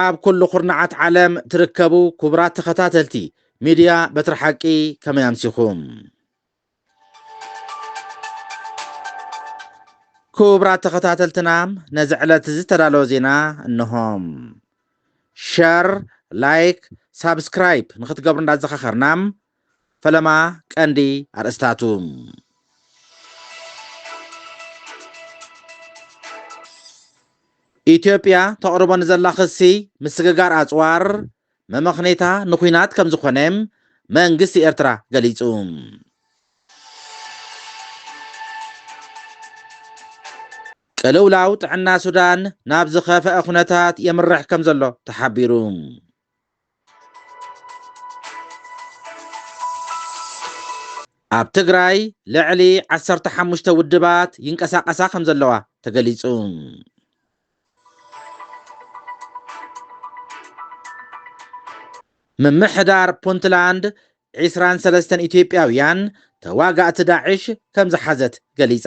ኣብ ኩሉ ኩርናዓት ዓለም ትርከቡ ኩቡራት ተኸታተልቲ ሚድያ በትሪ ሓቂ ከመይ ኣምሲኹም? ኩቡራት ተኸታተልትና ነዚ ዕለት እዚ ዝተዳለወ ዜና እንሆም ሸር ላይክ ሳብስክራይብ ንክትገብሩ እንዳዘኻኸርና ፈለማ ቀንዲ ኣርእስታቱ። ኢትዮጵያ ተቕርቦ ንዘላ ክሲ ምስግጋር ኣጽዋር መመኽኔታ ንኲናት ከም ዝኾነ መንግስቲ ኤርትራ ገሊጹ። ቅልውላው ጥዕና ሱዳን ናብ ዝኸፈኣ ኩነታት የምርሕ ከም ዘሎ ተሓቢሩ። ኣብ ትግራይ ልዕሊ ዓሰርተ ሓሙሽተ ውድባት ይንቀሳቐሳ ከምዘለዋ ተገሊፁ። ምምሕዳር ፑንትላንድ ዒስራን ሰለስተን ኢትዮጵያውያን ተዋጋእቲ ዳዕሽ ከምዝሓዘት ገሊፃ።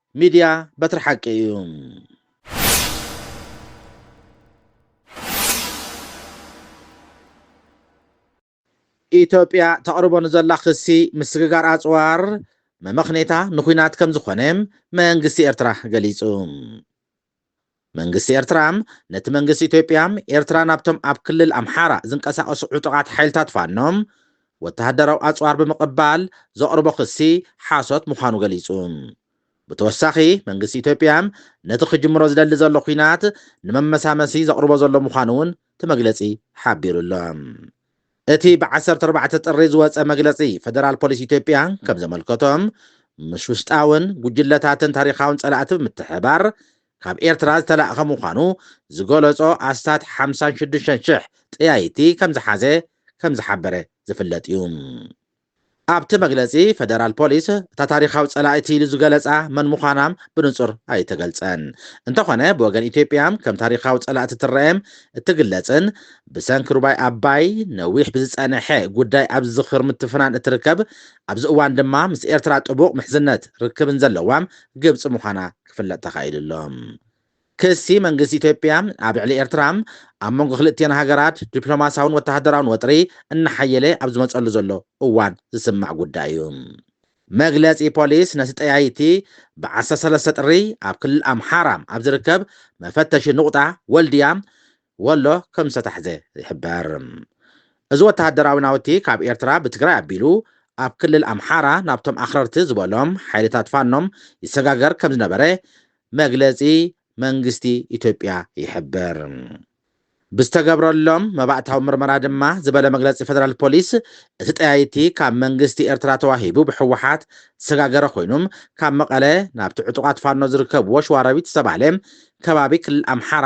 ሚድያ በትሪ ሓቂ እዩ። ኢትዮጵያ ተቕርቦ ንዘላ ክሲ ምስግጋር ኣጽዋር መመኽኔታ ንኲናት ከምዝኾነ መንግስቲ ኤርትራ ገሊጹ። መንግስቲ ኤርትራ፣ ነቲ መንግስቲ ኢትዮጵያ፣ ኤርትራ ናብቶም ኣብ ክልል ኣምሓራ ዝንቀሳቐሱ ዕጡቓት ሓይልታት ፋኖ፣ ወተሃደራዊ ኣጽዋር ብምቕባል ዘቕርቦ ክሲ ሓሶት ምዃኑ ገሊጹ። ብተወሳኺ፣ መንግስቲ ኢትዮጵያ፣ ነቲ ክጅምሮ ዝደሊ ዘሎ ኲናት ንመመሳመሲ ዘቕርቦ ዘሎ ምዃኑ'ውን እቲ መግለጺ ሓቢሩ ኣሎ። እቲ ብ ዓሰርተ ኣርባዕተ ጥሪ ዝወጸ መግለጺ ፈደራል ፖሊስ ኢትዮጵያ ከም ዘመልከቶ፣ ምስ ውሽጣውን ጉጅለታትን ታሪኻውን ጸላእቲ ብምትሕብባር ካብ ኤርትራ ዝተላእከ ምዃኑ ዝገለጾ ኣስታት ሓምሳን ሽዱሽተን ሽሕ ጠያይቲ ከም ዝሓዘ ከም ዝሓበረ ዝፍለጥ እዩ። ኣብቲ መግለጺ ፈደራል ፖሊስ፣ እታ ታሪኻዊ ጸላኢት ኢሉ ዝገለጻ መን ምዃና ብንጹር ኣይተገልጸን። እንተኾነ ብወገን ኢትዮጵያ ከም ታሪኻዊ ጸላእቲ ትረኤም እትግለጽን ብሰንኪ ሩባይ ኣባይ ነዊሕ ብዝጸነሐ ጉዳይ ኣብ ዝኽሪ ምትፍናን እትርከብ ኣብዚ እዋን ድማ ምስ ኤርትራ ጥቡቕ ምሕዝነት ርክብን ዘለዋ ግብጺ ምዃና ክፍለጥ ተኻኢሉ ኣሎ። ክሲ መንግስቲ ኢትዮጵያ ኣብ ልዕሊ ኤርትራ፣ ኣብ መንጎ ክልእቲኤን ሃገራት ዲፕሎማስያውን ወተሃደራውን ወጥሪ እናሓየለ ኣብ ዝመጸሉ ዘሎ እዋን ዝስማዕ ጉዳይ እዩ። መግለጺ ፖሊስ ነቲ ጠያይቲ ብ ዓሰርተ ሰለስተ ጥሪ ኣብ ክልል ኣምሓራ ኣብ ዝርከብ መፈተሺ ኑቕጣ ወልድያ ወሎ ከም ዝተታሕዘ ይሕበር። እዚ ወተሃደራዊ ናውቲ ካብ ኤርትራ ብትግራይ ኣቢሉ ኣብ ክልል ኣምሓራ ናብቶም ኣኽረርቲ ዝበሎም ሓይልታት ፋኖ ይሰጋገር ከም ዝነበረ መግለጺ መንግስቲ ኢትዮጵያ ይሕብር። ብዝተገብረሎም መባእታዊ ምርመራ ድማ ዝበለ መግለጺ ፈደራል ፖሊስ፣ እቲ ጠያይቲ ካብ መንግስቲ ኤርትራ ተዋሂቡ ብህወሓት ዝሰጋገረ ኮይኑም ካብ መቐለ ናብቲ ዕጡቓት ፋኖ ዝርከብዎ ሸዋሮቢት ዝተባህለ ከባቢ ክልል ኣምሓራ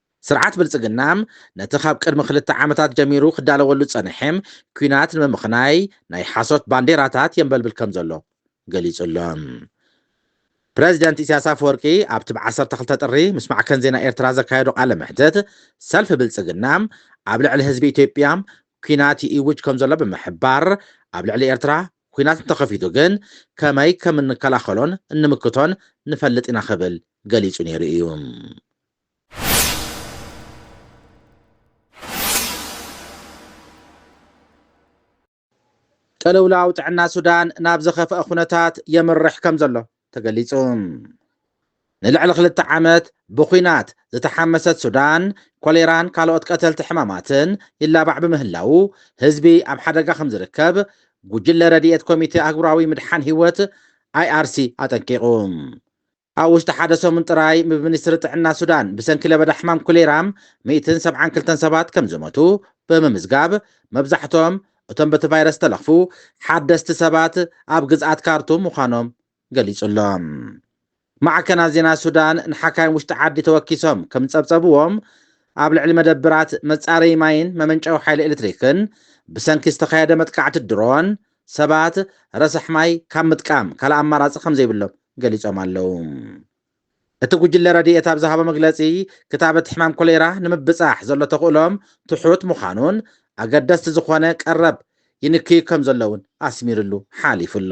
ስርዓት ብልጽግና ነቲ ካብ ቅድሚ ክልተ ዓመታት ጀሚሩ ክዳለወሉ ዝጸንሐ ኲናት ንምምኽናይ ናይ ሓሶት ባንዴራታት የንበልብል ከም ዘሎ ገሊጹ ኣሎ። ፕረዚደንት ኢሳያስ ኣፈወርቂ ኣብቲ ብ ዓሰርተ ክልተ ጥሪ ምስ ማዕከን ዜና ኤርትራ ዘካየዶ ቃለ መሕትት፣ ሰልፊ ብልጽግና ኣብ ልዕሊ ህዝቢ ኢትዮጵያ ኲናት ይእውጅ ከም ዘሎ ብምሕባር፣ ኣብ ልዕሊ ኤርትራ ኲናት እንተኸፊቱ ግን ከመይ ከም እንከላኸሎን እንምክቶን ንፈልጥ ኢና ክብል ገሊጹ ነይሩ እዩ። ቅልውላው ጥዕና ሱዳን ናብ ዘኸፍኣ ኩነታት የምርሕ ከምዘሎ ተገሊጹ። ንልዕሊ ክልተ ዓመት ብኲናት ዝተሓመሰት ሱዳን፣ ኮሌራን ካልኦት ቀተልቲ ሕማማትን ይላባዕ ብምህላዉ ህዝቢ ኣብ ሓደጋ ከምዝርከብ ጉጅለ ረድኤት ኮሚቴ ኣህጉራዊ ምድሓን ህይወት፣ IRC፣ ኣጠንቂቑ። ኣብ ውሽጢ ሓደ ሰሙን ጥራይ ብ ሚኒስትሪ ጥዕና ሱዳን ብሰንኪ ለበዳ ሕማም ኮሌራ ሚእትን ሰብዓን ክልተን ሰባት ከም ዝሞቱ ብምምዝጋብ መብዛሕቶም እቶም በቲ ቫይረስ ዝተለኽፉ ሓደስቲ ሰባት ኣብ ግዝኣት ካርቱም ምዃኖም ገሊጹ ኣሎ። ማዕከናት ዜና ሱዳን ንሓካይም ውሽጢ ዓዲ ተወኪሶም ከም ዝጸብጸብዎም ኣብ ልዕሊ መደብራት መጻረዪ ማይን መመንጨዊ ሓይሊ ኤሌክትሪክን ብሰንኪ ዝተኻየደ መጥቃዕቲ ድሮን ሰባት ረሳሕ ማይ ካብ ምጥቃም ካልእ ኣማራፂ ከምዘይብሎም ገሊፆም ኣለው። እቲ ጉጅለ ረድኤት ኣብ ዝሃቦ መግለፂ፣ ክታበት ሕማም ኮሌራ ንምብፃሕ ዘሎ ተኽእሎ ትሑት ምዃኑን ኣገደስቲ ዝኾነ ቀረብ ይንክዩ ከምዘሎ እውን ኣስሚርሉ ሓሊፉ ኣሎ።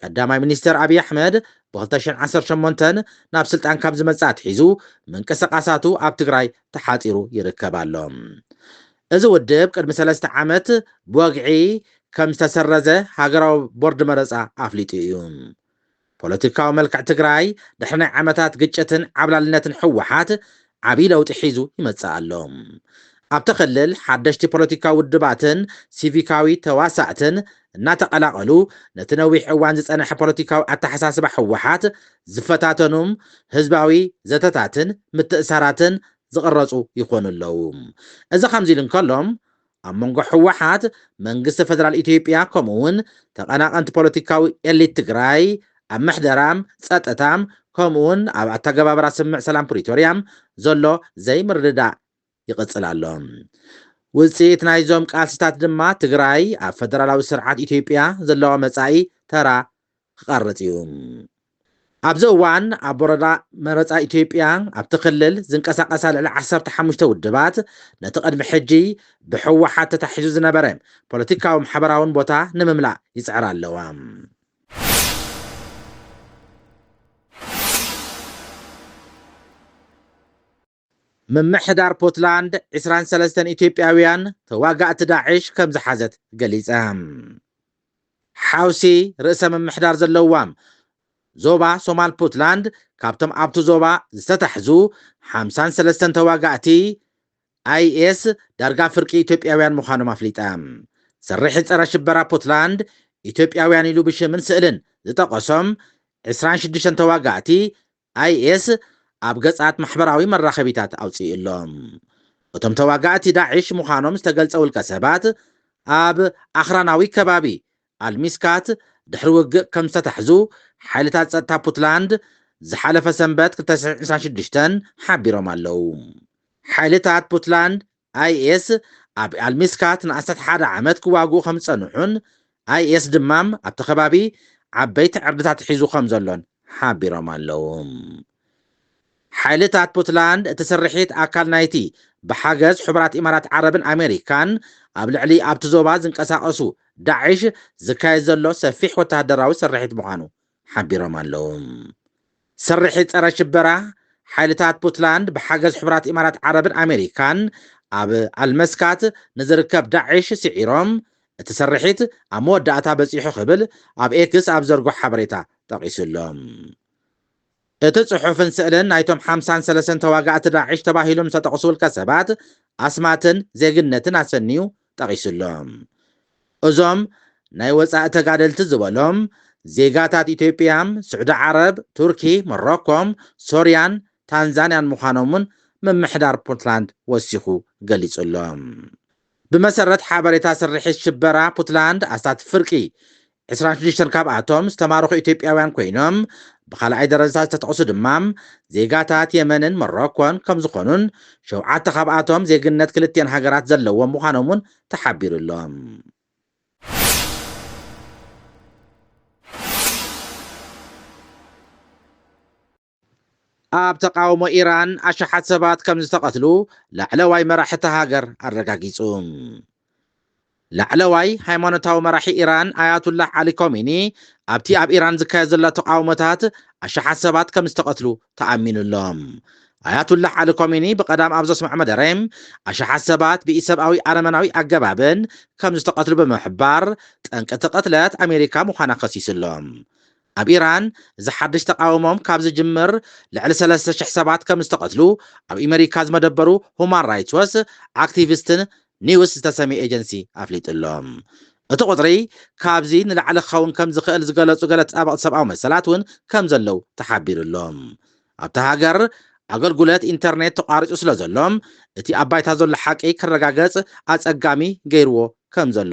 ቀዳማይ ሚኒስተር ኣብይ ኣሕመድ ብ ክልተ ሽሕ ዓሰርተ ሸሞንተ ናብ ስልጣን ካብ ዝመጽእ ኣትሒዙ ምንቅስቓሳቱ ኣብ ትግራይ ተሓጺሩ ይርከብ ኣሎ። እዚ ውድብ ቅድሚ ሰለስተ ዓመት ብወግዒ ከም ዝተሰረዘ ሃገራዊ ቦርድ መረጻ ኣፍሊጡ እዩ። ፖለቲካዊ መልክዕ ትግራይ ድሕሪ ናይ ዓመታት ግጭትን ዓብላልነትን ህወሓት ዓብይ ለውጢ ሒዙ ይመፅእ ኣሎ። ኣብቲ ክልል ሓደሽቲ ፖለቲካዊ ውድባትን ሲቪካዊ ተዋሳእትን እናተቐላቐሉ ነቲ ነዊሕ እዋን ዝፀነሐ ፖለቲካዊ ኣተሓሳስባ ህወሓት ዝፈታተኑም ህዝባዊ ዘተታትን ምትእሳራትን ዝቕረፁ ይኾኑ ኣለው። እዚ ከምዚ ኢሉ እንከሎ ኣብ መንጎ ህወሓት፣ መንግስቲ ፈደራል ኢትዮጵያ ከምኡ ውን ተቐናቐንቲ ፖለቲካዊ ኤሊት ትግራይ ኣብ ምሕደራ፣ ፀጥታ ከምኡ ውን ኣብ ኣተገባብራ ስምምዕ ሰላም ፕሪቶርያ ዘሎ ዘይምርድዳእ ይቕፅል ኣሎ። ውፅኢት ናይዞም ቃልሲታት ድማ ትግራይ ኣብ ፈደራላዊ ስርዓት ኢትዮጵያ ዘለዋ መፃኢ ተራ ክቐርፅ እዩ። ኣብዚ እዋን ኣብ ወረዳ መረፃ ኢትዮጵያ ኣብቲ ክልል ዝንቀሳቐሳ ልዕሊ ዓሰርተ ሓሙሽተ ውድባት ነቲ ቅድሚ ሕጂ ብህወሓት ተታሒዙ ዝነበረ ፖለቲካዊ ማሕበራውን ቦታ ንምምላእ ይፅዕራ ኣለዋ። ምምሕዳር ፑትላንድ ዕስራን ሰለስተን ኢትዮጵያውያን ተዋጋእቲ ዳዕሽ ከም ዝሓዘት ገሊጸ። ሓውሲ ርእሰ ምምሕዳር ዘለዋ ዞባ ሶማል ፑትላንድ ካብቶም ኣብቲ ዞባ ዝተታሕዙ ሓምሳን ሰለስተን ተዋጋእቲ ኣይኤስ ዳርጋ ፍርቂ ኢትዮጵያውያን ምዃኖም ኣፍሊጣ። ስርሒት ጸረ ሽበራ ፑትላንድ ኢትዮጵያውያን ኢሉ ብሽምን ስእልን ዝጠቐሶም ዕስራን ሽዱሽተን ተዋጋእቲ ኣይኤስ ኣብ ገጻት ማሕበራዊ መራኸቢታት ኣውጺኡ ኣሎ። እቶም ተዋጋእቲ ዳዒሽ ምዃኖም ዝተገልጸ ውልቀሰባት፣ ኣብ ኣኽራናዊ ከባቢ ኣል-ሚስካት ድሕሪ ውግእ ከም ዝተታሕዙ ሓይልታት ጸጥታ ፑትላንድ ዝሓለፈ ሰንበት ክልተ ሽሕን ዕስራን ሽዱሽተን ሓቢሮም ኣለዉ። ሓይልታት ፑትላንድ ኣይኤስ ኣብ ኣልሚስካት ንኣስታት ሓደ ዓመት ክዋግኡ ከም ዝጸንሑን ኣይኤስ ድማ ኣብቲ ከባቢ ዓበይቲ ዕርድታት ሒዙ ከም ዘሎን ሓቢሮም ኣለዉ። ሓይልታት ፑትላንድ እቲ ስርሒት ኣካል ናይቲ ብሓገዝ ሕቡራት ኢማራት ዓረብን ኣሜሪካን ኣብ ልዕሊ ኣብቲ ዞባ ዝንቀሳቐሱ ዳዒሽ ዝካየድ ዘሎ ሰፊሕ ወተሃደራዊ ስርሒት ምዃኑ ሓቢሮም ኣለዉ። ስርሒት ጸረ ሽበራ ሓይልታት ፑትላንድ ብሓገዝ ሕቡራት ኢማራት ዓረብን ኣሜሪካን ኣብ ኣልመስካት ንዝርከብ ዳዒሽ ስዒሮም እቲ ስርሒት ኣብ መወዳእታ በጺሑ ክብል ኣብ ኤክስ ኣብ ዘርጎ ሓበሬታ ጠቒሱ'ሎ። እቲ ጽሑፍን ስእልን ናይቶም ሓምሳን ሰለሰን ተዋጋእቲ ዳዕሽ ተባሂሎም ዝተጠቕሱ ውልቀ ሰባት ኣስማትን ዜግነትን ኣሰንዩ ጠቒሱ ኣሎ። እዞም ናይ ወጻኢ ተጋደልቲ ዝበሎም፣ ዜጋታት ኢትዮጵያ፣ ስዑዲ ዓረብ፣ ቱርኪ፣ ሞሮኮ፣ ሶርያን ታንዛንያን ምዃኖም'ውን ምምሕዳር ፑንትላንድ ወሲኹ ገሊጹ ኣሎ። ብመሰረት ሓበሬታ ስርሒት ሽበራ ፑትላንድ ኣስታት ፍርቂ፣ ዕስራን ሽዱሽተን፣ ካብኣቶም ዝተማረኹ ኢትዮጵያውያን ኮይኖም ብኻልኣይ ደረጃታት ዝተጠቕሱ ድማ ዜጋታት የመንን ሞሮኮን ከምዝኾኑን ሸውዓተ ካብኣቶም ዜግነት ክልቲኤን ሃገራት ዘለዎም ምዃኖም እውን ተሓቢሩ'ሎ። ኣብ ተቓውሞ ኢራን ኣሽሓት ሰባት ከምዝተቐትሉ ላዕለዋይ መራሒ እታ ሃገር ኣረጋጊጹ። ላዕለዋይ ሃይማኖታዊ መራሒ ኢራን ኣያቱላህ ዓሊ ኮሚኒ ኣብቲ ኣብ ኢራን ዝካየድ ዘሎ ተቓውሞታት ኣሽሓት ሰባት ከምዝተቐትሉ ተኣሚኑ ኣሎ። ኣያቱላህ ዓሊ ኮሚኒ ብቐዳም ኣብ ዘስምዖ መደረ ኣሽሓት ሰባት ብኢሰብኣዊ ኣረመናዊ ኣገባብን ከምዝተቐትሉ ብምሕባር ጠንቂ እቲ ቅትለት ኣሜሪካ ምዃና ከሲሱ ኣሎ። ኣብ ኢራን እዚ ሓድሽ ተቓውሞም ካብ ዝጅምር ልዕሊ ሰለስተ ሽሕ ሰባት ከም ዝተቐትሉ ኣብ ኢመሪካ ዝመደበሩ ሁማን ራይትስ ዎስ ኣክቲቪስትን ኒውስ ዝተሰምየ ኤጀንሲ ኣፍሊጡ ኣሎ። እቲ ቁጽሪ ካብዚ ንላዕሊ ክኸውን ከም ዝኽእል ዝገለጹ ገለ ተጣበቕቲ ሰብኣዊ መሰላት እውን ከም ዘለዉ ተሓቢሩ ኣሎ። ኣብታ ሃገር ኣገልጉለት ኢንተርኔት ተቋሪጹ ስለ ዘሎ እቲ ኣብ ባይታ ዘሎ ሓቂ ክረጋገጽ ኣጸጋሚ ገይርዎ ከም ዘሎ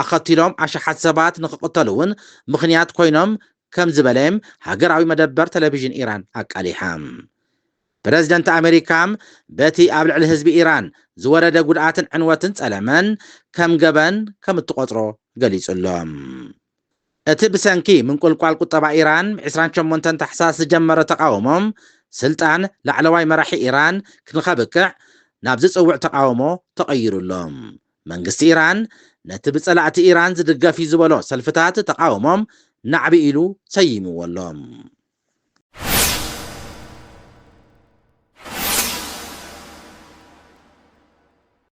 ኣኸቲሎም ኣሽሓት ሰባት ንክቕተሉ'ውን ምኽንያት ኮይኖም ከም ዝበለ ሃገራዊ መደበር ተለቪዥን ኢራን ኣቃሊሓ። ፕረዚደንት ኣመሪካ በቲ ኣብ ልዕሊ ህዝቢ ኢራን ዝወረደ ጉድኣትን ዕንወትን ጸለመን ከም ገበን ከም እትቖጽሮ ገሊጹ'ሎ። እቲ ብሰንኪ ምንቁልቋል ቁጠባ ኢራን ብ ዕስራን ሸሞንተን ታሕሳስ ዝጀመረ ተቓውሞ፣ ስልጣን ላዕለዋይ መራሒ ኢራን ንከብቅዕ ናብ ዝጽውዕ ተቓውሞ ተቐይሩ ኣሎ። መንግስቲ ኢራን ነቲ ብጸላእቲ ኢራን ዝድገፍ'ዩ ዝበሎ ሰልፍታት ተቓውሞ ናዕቢ ኢሉ ሰይምዎ ኣሎ።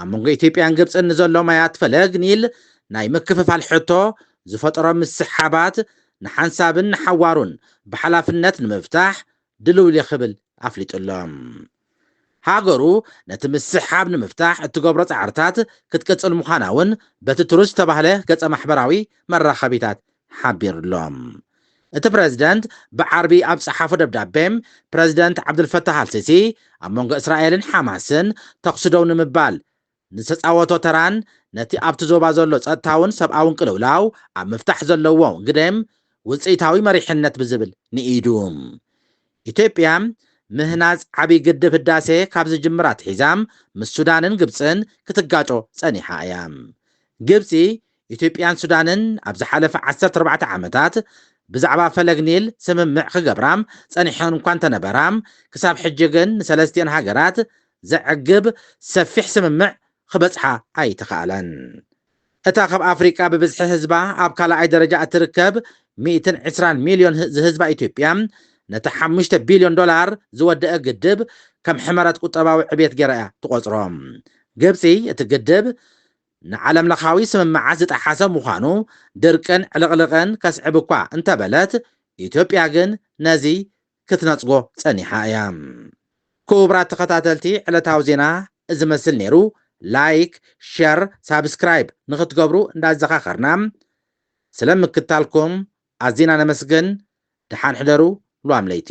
ኣብ መንጎ ኢትዮጵያን ግብጽን ንዘሎ ማያት ፈለግ ኒል ናይ ምክፍፋል ሕቶ ዝፈጠሮ ምስሕሓባት ንሓንሳብን ንሓዋሩን ብሓላፍነት ንምፍታሕ ድልው'የ ክብል ኣፍሊጡ'ሎ። ሃገሩ ነቲ ምስሕሓብ ንምፍታሕ እትገብሮ ጻዕርታት ክትቅጽል ምዃና'ውን በቲ ትሩዝ ዝተባህለ ገጸ-ማሕበራዊ መራኸቢታት ሓቢሩ'ሎ። እቲ ፕረዚደንት ብዓርቢ ኣብ ዝጸሓፎ ደብዳቤ፣ ፕረዚደንት ዓብዱልፈታህ ኣልሲሲ ኣብ መንጎ እስራኤልን ሓማስን ተዅሲ ደው ንምባል ንዝተጻወቶ ተራን ነቲ ኣብቲ ዞባ ዘሎ ጸጥታውን ሰብኣውን ቅልውላው ኣብ ምፍታሕ ዘለዎ ግደ ውጽኢታዊ መሪሕነት ብዝብል ንኢዱ። ኢትዮጵያ ምህናጽ ዓብዪ ግድብ ህዳሴ ካብ ዝጅምር ኣትሒዛ ምስ ሱዳንን ግብጽን ክትጋጮ ጸኒሓ እያ። ግብጺ ኢትዮጵያን ሱዳንን ኣብ ዝሓለፈ ዓሰርተ ኣርባዕተ ዓመታት ብዛዕባ ፈለግ ኒል ስምምዕ ክገብራ ጸኒሐን እኳ እንተነበራ፣ ክሳብ ሕጂ ግን ንሰለስቲኤን ሃገራት ዘዕግብ ሰፊሕ ስምምዕ ክበጽሓ ኣይተኻእለን። እታ ካብ ኣፍሪቃ ብብዝሒ ህዝባ ኣብ ካልኣይ ደረጃ እትርከብ ሚእትን ዕስራን ሚልዮን ዝህዝባ ኢትዮጵያ፣ ነቲ ሓሙሽተ ቢልዮን ዶላር ዝወደኣ ግድብ ከም ሕመረት ቁጠባዊ ዕብየት ገይራ'ያ ትቖጽሮ። ግብጺ እቲ ግድብ ንዓለምለኻዊ ስምምዓት ዝጠሓሰ ምዃኑ፣ ድርቅን ዕልቕልቕን ከስዕብ እኳ እንተበለት፣ ኢትዮጵያ ግን ነዚ ክትነጽጎ ጸኒሓ እያ። ኩቡራት ተኸታተልቲ ዕለታዊ ዜና እዚ መስል ኔሩ፣ ላይክ፣ ሸር፣ ሳብስክራይብ ንኽትገብሩ እንዳዘኻኸርና፣ ስለ ምክትታልኩም ኣዚና ነመስግን፣ ደሓን ሕደሩ ሉዋም ለይቲ።